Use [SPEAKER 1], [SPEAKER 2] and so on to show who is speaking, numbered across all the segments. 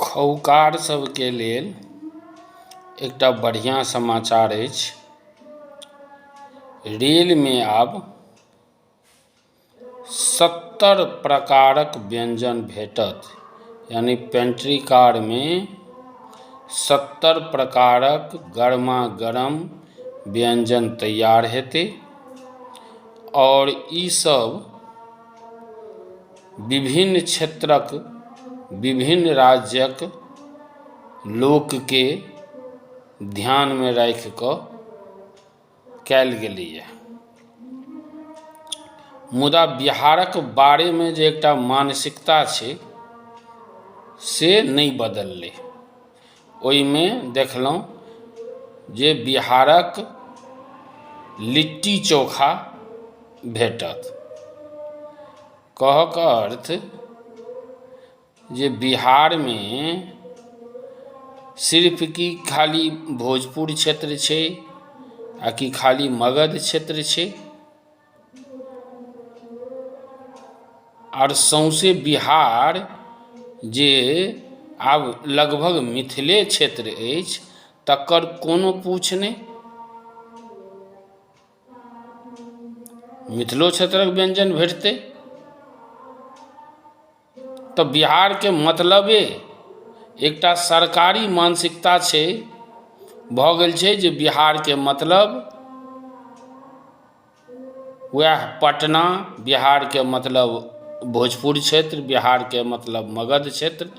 [SPEAKER 1] खौकार सभके लेल एकटा बढ़िऑं समाचार अछि रेलमे आब सत्तर प्रकारक व्यञ्जन भेटत यानि पेंट्री कारमे सत्तर प्रकारक गरमा गरम व्यञ्जन तैयार हेतै आओर ई सभ विभिन्न क्षेत्रक विभिन्न राज्यक लोकके ध्यानमे राखि कऽ कयल गेलैया मुदा बिहारक बारेमे जे एकटा मानसिकता छै से नहि बदललै ओहिमे देखलहुँ जे बिहारक लिट्टी चोखा भेटत कहऽके अर्थ जे बिहारमे सिर्फ कि खाली भोजपुर क्षेत्र छै आ कि खाली मगध क्षेत्र छै आर सौँसे बिहार जे आब लगभग मिथिले क्षेत्र अछि तकर कोनो पूछ नहि मिथिलो क्षेत्रक व्यञ्जन भेटतै तऽ बिहारके मतलबे एकटा सरकारी मानसिकता छै भऽ गेल छै जे बिहारके मतलब वएह पटना बिहारके मतलब भोजपुर क्षेत्र बिहारके मतलब मगध क्षेत्र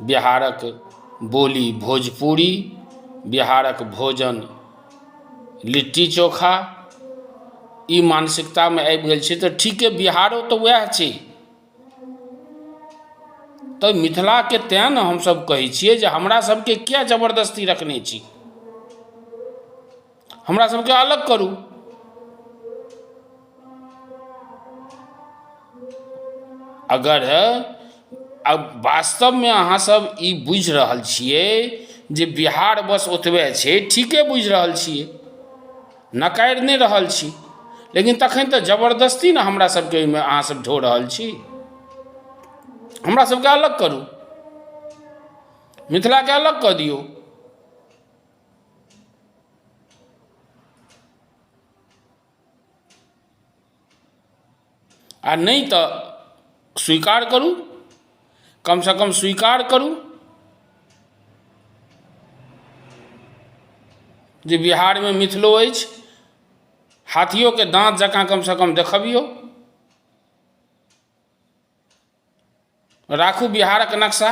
[SPEAKER 1] बिहारक बोली भोजपुरी बिहारक भोजन लिट्टी चोखा ई मानसिकतामे आबि गेल छै तऽ ठीके बिहारो तऽ वएह छै तऽ मिथिलाके तैं ने हमसभ कहै छियै जे हमरा सभके किए जबरदस्ती रखने छी हमरा सभकेँ अलग करू अगर वास्तवमे अहाँ सभ ई बुझि रहल छियै जे बिहार बस ओतबे छै ठीके बुझि रहल छियै नकारि नहि रहल छी लेकिन तखन तऽ जबरदस्ती ने हमरा सभकेँ एहिमे अहाँ सभ ढो रहल छी हमरा सभकेँ अलग करू मिथिलाकेँ अलग कऽ दियौ आ नहि तऽ स्वीकार करू कम सँ कम स्वीकार करू जे बिहारमे मिथिलो अछि हाथियोके दाँत जकाँ कम सँ कम देखबियौ राखू बिहारक नक्शा